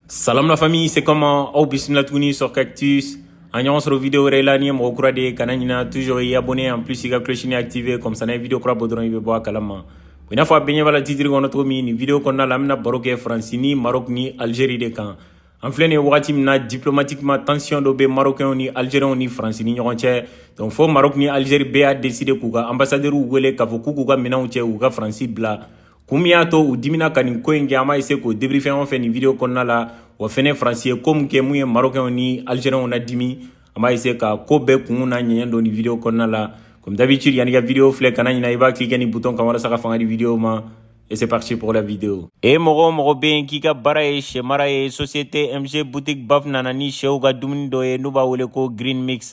Salam la famille, c'est comment aw bismillah tuguni sur Cactus. An ɲɔgɔn sɔrɔ vidéo wɛrɛ la n'i ye mɔgɔ kura de ye kana ɲina toujours i abonné en plus i ka clochini activé comme ça n'an ye vidéo kura bɔ dɔrɔn i bɛ bɔ a kalama i n'a fɔ a bɛɛ ɲɛ b'a la titre kɔnɔ cogo min nin vidéo kɔnɔna la an bɛna baro kɛ faransi ni maroc ni algérie de kan an filɛ nin ye wagati min na diplomatiquement tension dɔ bɛ marocainw ni algérienw ni faransi ni ɲɔgɔn cɛ donc fo maroc ni algérie bɛɛ y'a décider k'u ka ambassadeurw wele k'a fɔ k'u k'u ka minɛnw cɛ u ka faransi bila kun min y'a to u dimina ka nin ko in kɛ an b'a essayer k'o débriefer ɲɔgɔn fɛ nin video kɔnɔna la wa fɛnɛ faransi ye ko min kɛ min ye marokɛnw ni algeriɛnw na dimi an b'a essayer ka ko bɛɛ kunw na ɲɛɲɛ dɔn nin video kɔnɔna la comme d'habitude yanni ka video filɛ kana ɲina i b'a cliquer nin bouton kan walasa ka fanga di video ma Et c'est parti pour la vidéo. E mɔgɔ o mɔgɔ bɛ yen k'i ka baara ye sɛ mara ye société MG boutique BAF nana ni sɛw ka dumuni dɔ ye n'u b'a wele ko Green Mix.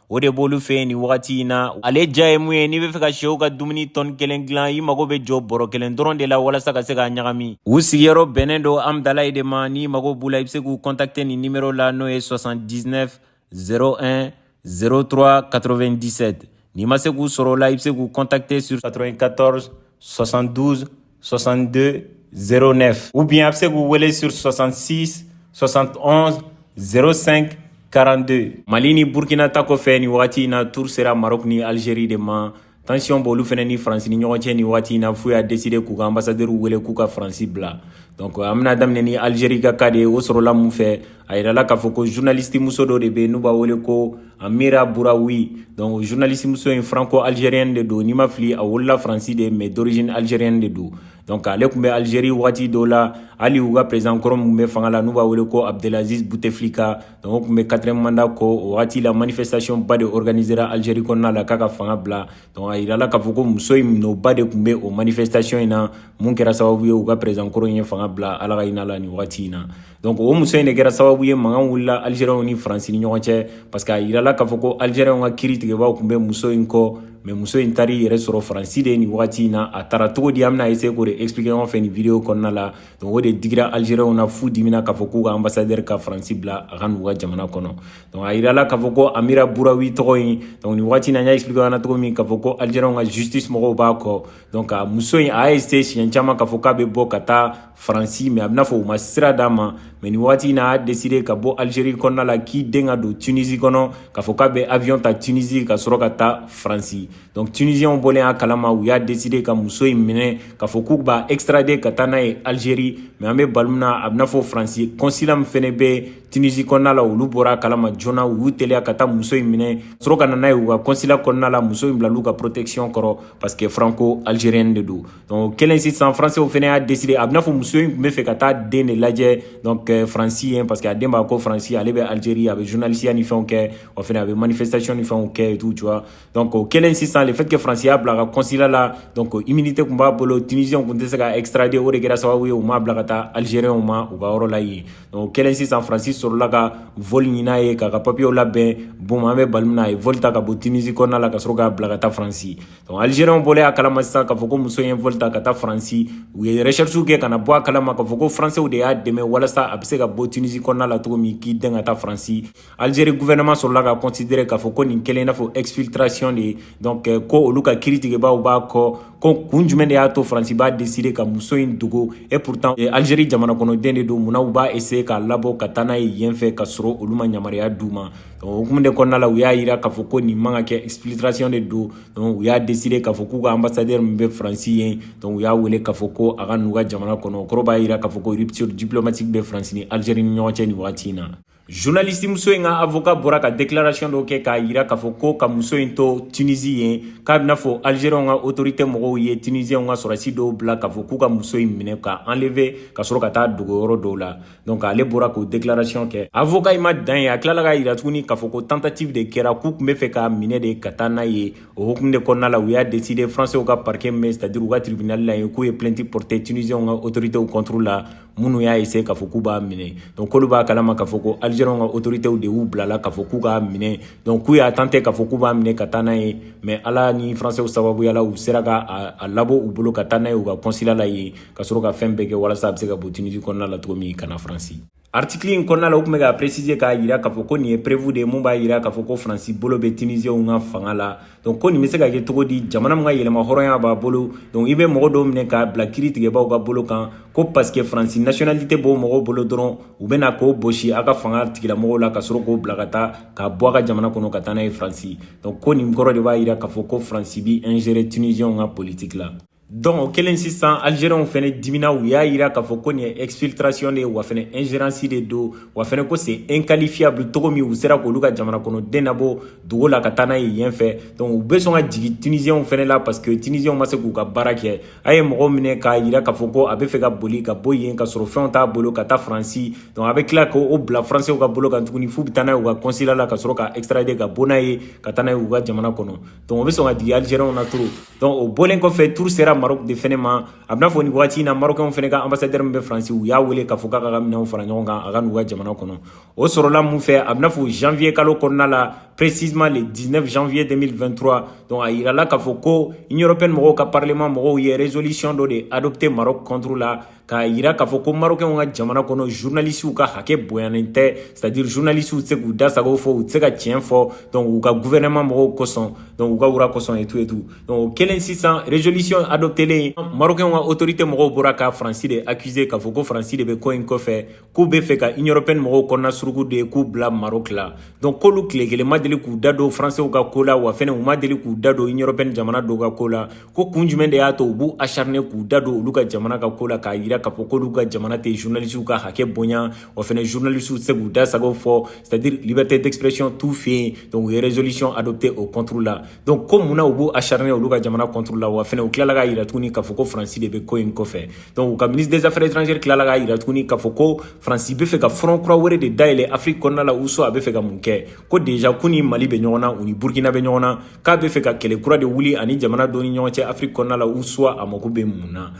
o de b'olu fɛ yen nin wagati in na ale diya ye mun ye n'i bɛ fɛ ka sɛw ka dumuni tɔni kelen dilan i mago bɛ jɔ bɔrɔ kelen dɔrɔn de la walasa ka se k'a ɲagami u sigiyɔrɔ bɛnnen don hamdallaye de ma n'i mago b'u la i bɛ se k'u kɔntakite nin nimero la n'o ye 79 01 03 97 n'i ma se k'u sɔrɔ o la i bɛ se k'u kɔntakite sur 94 72 62 09 ou bien a bɛ se k'u wele sur 66 71 05 42 Mali ni Burkina ta kɔfɛ nin wagati in na tour sera Maroc ni Algérie de ma tension b'olu fɛnɛ ni France ni ɲɔgɔn cɛ nin wagati in na f'u y'a décider k'u ka ambassadeurw wele k'u ka France bila donc an bɛna daminɛ ni Algérie ka cas de ye o sɔrɔla mun fɛ a yirala k'a fɔ ko journalistimuso dɔ de bɛ yen n'u b'a wele ko amira bouraoui donc journalistimuso in franco algérienne de don ni n ma fili a wolola faransi de mais d'origine algérienne de don donc ale tun bɛ algérie wagati dɔw la hali u ka président kɔrɔ min bɛ fanga la n'u b'a wele ko abdelaziz bouteflika donc o tun bɛ quatrième mandat kɔ o wagati la manifestation ba de organisera algérie kɔnɔna la k'a ka fanga bila donc a yirala k'a fɔ ko muso in minɛba de tun bɛ o manifestation in na min kɛra sababu ye u ka président kɔrɔ in ye fanga bila ala ka hinɛ a la nin wagati in na donc o muso in de kɛra sababu ye mankan wulila algériens ni faransi ni ɲɔgɔn cɛ parce que a yirala k'a fɔ ko algériens ka kiri tigɛbaaw tun bɛ muso in kɔ mais muso in taar'i yɛrɛ sɔrɔ faransi de ye nin wagati in na a taara cogo di an bɛna essayer k'o de expliquer ɲɔgɔn fɛ nin video kɔnɔna la donc o de digira algériens na f'u dimina k'a fɔ k'u ka ambassadeur ka faransi bila a ka n'u ka jamana kɔnɔ donc a yirala k'a fɔ ko amira bouraoui tɔgɔ in donc nin wagati in na n y'a expliquer ɲɔgɔn na cogo min k'a fɔ ko algériens ka justice mɔgɔw b'a kɔ donc a muso in a y'a essayer siɲɛ caman k'a fɔ k'a bɛ bɔ ka taa faransi mais a b'i n'a fɔ u ma sira d'a ma mais nin waati in na a y'a deside ka bɔ algerie kɔnɔna la k'i dɛn ka don tunisi kɔnɔ k'a fɔ k'a bɛ avion ta tunisi ka sɔrɔ ka taa faransi donc tunisiɛnw bɔlen a kalama u y'a deside ka muso in minɛ k'a fɔ k'u b'a extrade ka taa n'a ye algerie mais an bɛ waati min na a b'i n'a fɔ faransi consulat min fɛnɛ bɛ tunisi kɔnɔna la olu bɔra a kalama joona u y'u teliya ka taa muso in minɛ sɔrɔ ka na n'a ye u ka consulat kɔnɔna la muso in bilal'u ka protection kɔrɔ parce que franco algérienne de don donc o kɛlen sisan faransiw fɛnɛ y'a deside a b'i n'a fɔ muso in tun bɛ fɛ ka taa den de lajɛ donc euh, faransi yen parce que a den b'a ko faransi ale bɛ algérie a bɛ journalisiya ni fɛnw kɛ wa fɛnɛ a bɛ manifestation ni fɛnw kɛ et tout tu vois donc o kɛlen sisan le fait que faransi y'a bila a ka consulat la donc immunité tun b'a bolo tunisiens tun tɛ se k'a extrader o de kɛra sababu ye u m'a bila ka taa algériens ma u ka yɔrɔ la yen donc o kɛlen sisan faransi sɔrɔla ka vol ɲin'a ye k'a ka papiyew labɛn bon an bɛ baro min na a ye vol ta ka bɔ tunisi kɔnɔna la ka sɔrɔ k'a bila ka taa faransi Donc Algériens bɔlen a kalama sisan k'a fɔ ko muso ye vol ta ka taa Faransi u ye recherche kɛ ka na bɔ a kalama k'a fɔ ko Français de y'a dɛmɛ walasa a bɛ se ka bɔ Tunisie kɔnɔna la cogo min k'i dɛn ka taa Faransi Algérie gouvernement sɔrɔla k'a considérer k'a fɔ ko nin kɛlen i n'a fɔ exfiltration de ye donc euh, ko olu ka kiri tigɛbaaw b'a kɔ ko kun jumɛn de y'a to Faransi b'a décider ka muso in dogo et pourtant euh, Algérie jamana kɔnɔden de don munna u b'a essayer k'a labɔ ka taa n'a ye yen fɛ ka sɔrɔ olu ma yamaruya d'u ma o hukumu de kɔnɔna la u y'a yira k'a fɔ ko nin man ka kɛ exfiltration de don donc u y'a deside k'a fɔ k'u ka ambassadeur min bɛ faransi yen donc u y'a wele k'a fɔ ko a ka n'u ka jamana kɔnɔ o kɔrɔ b'a yira k'a fɔ ko rupture diplomatique bɛ faransi ni algérie ni ɲɔgɔn cɛ nin wagati in na journaliste muso in ka avocat bɔra ka déclaration dɔ kɛ k'a yira k'a fɔ ko ka muso in to tunisi yen k'a b'i n'a fɔ algérienw ka autorité mɔgɔw ye tunisienw ka sɔrɔdasi dɔw bila k'a fɔ k'u ka muso in minɛ k'a enlever ka sɔrɔ ka taa dogo yɔrɔ dɔw la donc ale bɔra k'o déclaration kɛ avoka in ma dan yen a tilala k'a yira tuguni k'a fɔ ko tentative de kɛra k'u tun bɛ fɛ k'a minɛ de ka taa n'a ye o hukumu de kɔnɔna la u y'a décider français ka parquet min c'est à dire u ka tribunal la yen k'u ye plainte porter tunisiens ka autorités contre la minnu y'a essayer k'a fɔ k'u b'a minɛ donc k'olu b'a kalama k'a fɔ ko algériens ka autorités de y'u bila a la k'a fɔ k'u k'a minɛ donc k'u y'a tenter k'a fɔ k'u b'a minɛ ka taa n'a ye mais ala ni français sababuya la u sera ka a labɔ u bolo ka taa n'a ye u ka consulat la yen ka sɔrɔ ka fɛn bɛɛ kɛ walasa a bɛ se ka bɔ tunisi kɔnɔna la cogo min ka na faransi artikili in kɔnɔna la u tun bɛ k'a préciser k'a yira k'a fɔ ko nin ye preuve de ye min b'a yira k'a fɔ ko faransi bolo bɛ tunisienw ka fanga la donc ko nin bɛ se ka kɛ cogo di jamana min ka yɛrɛmahɔrɔnya b'a bolo donc i bɛ mɔgɔ dɔw minɛ k'a bila kiri tigɛbaaw ka bolo kan ko parce que faransi nationalité b'o mɔgɔw bolo dɔrɔn u bɛ na k'o bɔsi a ka fanga tigilamɔgɔw la ka sɔrɔ k'o bila ka taa k'a bɔ a ka jamana kɔnɔ ka taa n'a ye faransi donc ko nin kɔrɔ de b'a yira k'a fɔ ko faransi b'i ingérer tunisienw ka politique la Donc o kɛlen sisan Algériens fɛnɛ dimina u y'a yira k'a fɔ ko nin ye exfiltration de ye wa fɛnɛ ingérence de don wa fɛnɛ ko c'est inqualifiable cogo min u sera k'olu ka jamana kɔnɔden nabɔ dogo la ka taa n'a ye yen fɛ donc u bɛ sɔrɔ ka jigin Tunisiens fɛnɛ la parce que Tunisiens ma se k'u ka baara kɛ a ye mɔgɔ minɛ k'a yira k'a fɔ ko a bɛ fɛ ka boli ka bɔ yen ka sɔrɔ fɛnw t'a bolo ka taa Faransi donc a bɛ tila k'o bila Français ka bolo kan tuguni f'u bɛ taa n'a ye u ka consulat la ka sɔrɔ k'a extrader ka bɔ n'a ye ka taa n'a ye u ka jamana kɔnɔ Donc o bɛ sɔn ka digi Algériens na trop donc o bɔlen kɔfɛ tour sera Maroc de fɛnɛ ma a bɛna fɔ nin wagati in na Marocains fɛnɛ ka ambassadeur min bɛ France u y'a wele k'a fɔ k'a k'a ka minɛnw fara ɲɔgɔn kan a ka n'u ka jamana kɔnɔ o sɔrɔla mun fɛ a bɛna fɔ janvier kalo kɔnɔna la précisément le 19 janvier 2023 donc a yirala k'a fɔ ko Union européenne mɔgɔw ka parlement mɔgɔw ye résolution dɔ de adopté Maroc contre la k'a yira k'a fɔ ko marokɛnw ka jamana kɔnɔ journalisiw ka hakɛ bonyanen tɛ c'est à dire journalisiw tɛ se k'u da sago fɔ u tɛ se ka tiɲɛ fɔ donc u ka gouvernement mɔgɔw kosɔn donc u ka roi kosɔn et tout et tout donc o kelen sisan résolution adoptelen marokɛnw ka autorité mɔgɔw bɔra ka faransi de accuser k'a fɔ ko faransi de bɛ ko in kɔfɛ k'u bɛ fɛ ka union européenne mɔgɔw kɔnɔna suruku de k'u bila maroc la donc k'olu tile kelen ma deli k'u da don français ka ko la wa fɛnɛ u ma deli k'u da don union européenne jamana dɔw ka ko la ko kun jumɛn de y'a to u b'u acharne k'u da don olu ka jamana ka ko la k'a yira k'a fɔ k'olu ka jamana tɛ journalisiw ka hakɛ bonya wa fɛnɛ journalisiw tɛ se k'u da sago fɔ c'est à dire liberté d'expression t'u fɛ yen donc u ye résolution adopté o contre la donc ko mun na u b'u acharne olu ka jamana contre la wa fɛnɛ u tilala k'a yira tuguni k'a fɔ ko faransi de bɛ ko in kɔfɛ donc u ka ministre des affaires étrangères tilala k'a yira tuguni k'a fɔ ko faransi bɛ fɛ ka front kura wɛrɛ de dayɛlɛ afiriki kɔnɔna la ou soit a bɛ fɛ ka mun kɛ ko déjà k'u ni mali bɛ ɲɔgɔn na u ni burkina bɛ ɲɔgɔn na k'a bɛ fɛ ka kɛlɛ kura de wuli ani jamana dɔ ni ɲɔgɔn cɛ afiriki kɔnɔna la ou soit a mako bɛ mun na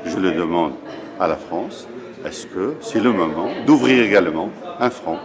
je le demande à la france est-ce que c'est le moment d'ouvrir également un front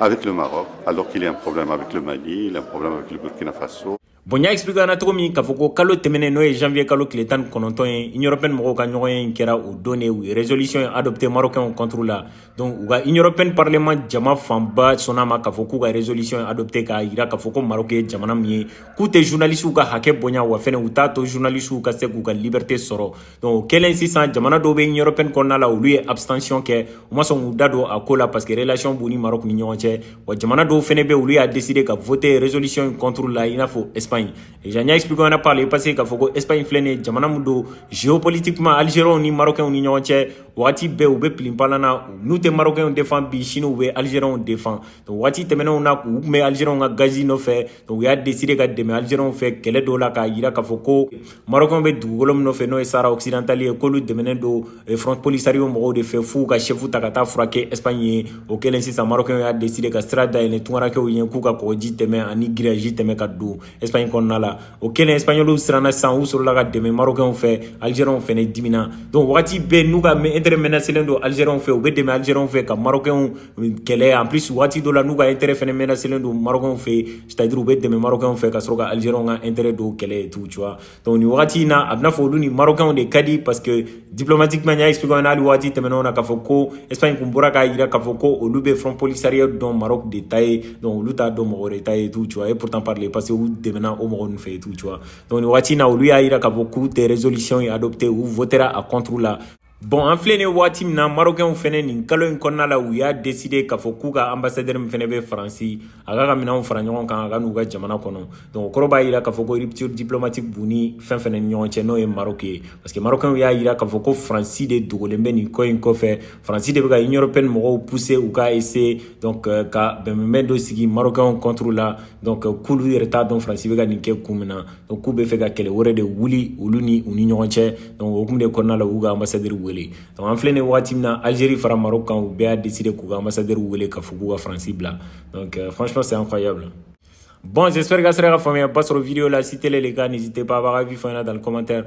avec le Maroc, alors qu'il y a un problème avec le Mali, il y a un problème avec le Burkina Faso. Bon n y'a expliquer aw na cogo min k'a fɔ ko kalo tɛmɛnen n'o ye janvier kalo tile tan ni kɔnɔntɔn ye Union européenne mɔgɔw ka ɲɔgɔnye in kɛra o don de u ye résolution in adopté marocainw contre la donc u ka Union européenne parlement jama fanba sɔnna a ma k'a fɔ k'u ka résolution in adopté k'a yira k'a fɔ ko Maroc ye jamana min ye k'u tɛ journalistes ka hakɛ bonya wa fɛnɛ u t'a to journalistes ka se k'u ka liberté sɔrɔ Donc o kɛlen sisan jamana dɔw bɛ Union européenne kɔnɔna la olu ye abstention kɛ u ma sɔn k'u da don a ko la parce que relation b'u ni Maroc ni ɲɔgɔn cɛ wa jamana dɔw fana bɛ olu y'a décider ka voter résolution in contre la i n'a fɔ Espagne déjà n y'a expliquer aw na par le passé k'a fɔ ko Espagne filɛ nin ye jamana min don géopolitiquement Algériens ni Marocains ni ɲɔgɔn cɛ wagati bɛɛ u bɛ pilinpalan na n'u tɛ Marocains défend bi sini u bɛ Algériens défend donc waati tɛmɛnenw na u tun bɛ Algériens ka gazi nɔfɛ u y'a deside ka dɛmɛ alizeriyɛnw fɛ kɛlɛ dɔw la k'a yira k'a fɔ ko marɔkɛnw bɛ dugukolo min nɔfɛ n'o ye Sahara occidental ye k'olu dɛmɛnen don eh, front polisario mɔgɔw de fɛ f'u ka sɛfu ta ka taa furakɛ ɛsipaɲi yen o kɛlen sisan marɔkɛnw y'a deside ka sira dayɛlɛ tungarankɛw ye k'u ka kɔgɔji tɛmɛ ani giriyaji tɛmɛ ka don ɛsipaɲi kɔnɔna la o kɛlen ɛsipaɲɔliw siranna sisan u sɔrɔla ka dɛmɛ marɔkɛnw fɛ alizeriyɛnw fɛnɛ dimina donc wagati bɛɛ n'u ka intɛrɛ menacelen don alizeriyɛnw fɛ u bɛ dɛmɛ alizeriyɛnw fɛ ka marɔkɛnw kɛlɛ en plus waati dɔ la n'u ka intérêt fɛnɛ menacelen don Marocains fɛ yen c'est à dire u bɛ dɛmɛ Marocains fɛ ka sɔrɔ ka Algériens ka intérêt dɔw kɛlɛ et tout tu vois donc nin wagati in na a bɛna fɔ olu ni Marocains de ka di parce que diplomatiquement n y'a expliquer aw ɲɛna hali waati tɛmɛnenw na k'a fɔ ko Espagne kun bɔra k'a jira k'a fɔ ko olu bɛ Front Polisario dɔn Maroc de ta ye donc olu t'a dɔn mɔgɔ wɛrɛ ta ye et tout tu vois et pourtant par le passé u dɛmɛna o mɔgɔ ninnu fɛ et tout tu vois donc nin wagati in na olu y'a jira k'a fɔ k'u tɛ résolution in adopter u votera a contre la Bon an filɛ nin waati min na marokɛnw fɛnɛ nin kalo in kɔnɔna la u y'a deside k'a fɔ k'u ka anbasadɛri min fɛnɛ bɛ faransi a k'a ka minɛnw fara ɲɔgɔn kan a ka n'u ka jamana kɔnɔ donc o kɔrɔ b'a yira k'a fɔ ko rupture diplomatique b'u ni fɛn fɛnɛ ni ɲɔgɔn cɛ n'o ye marok ye parce que marokɛnw y'a yira k'a fɔ ko faransi de dogolen bɛ nin ko in kɔfɛ faransi de bɛ ka union européenne mɔgɔw pousser u ka essayer donc euh, ka bɛnbɛnbɛn dɔ sigi marokɛnw contre la donc euh, k'olu yɛrɛ t'a dɔn faransi bɛ ka nin kɛ kun min na donc k'u bɛ fɛ ka kɛlɛ wɛrɛ de wuli olu ni u ni ɲɔgɔn cɛ donc o hukumu de kɔnɔna la u y'u ka ambassadeur wele donc an filɛ nin wagati min na algérie fara maroc kan u bɛɛ y'a décider k'u ka ambassadeur wele k'a fɔ k'u ka faransi bila donc euh, franchement c'est incroyable bon j'espère k'a sera ka faamuyaba sɔrɔ video la si tel est le cas n'hésitez pas a b'a ka avis fɔ an ɲɛna dans le commentaire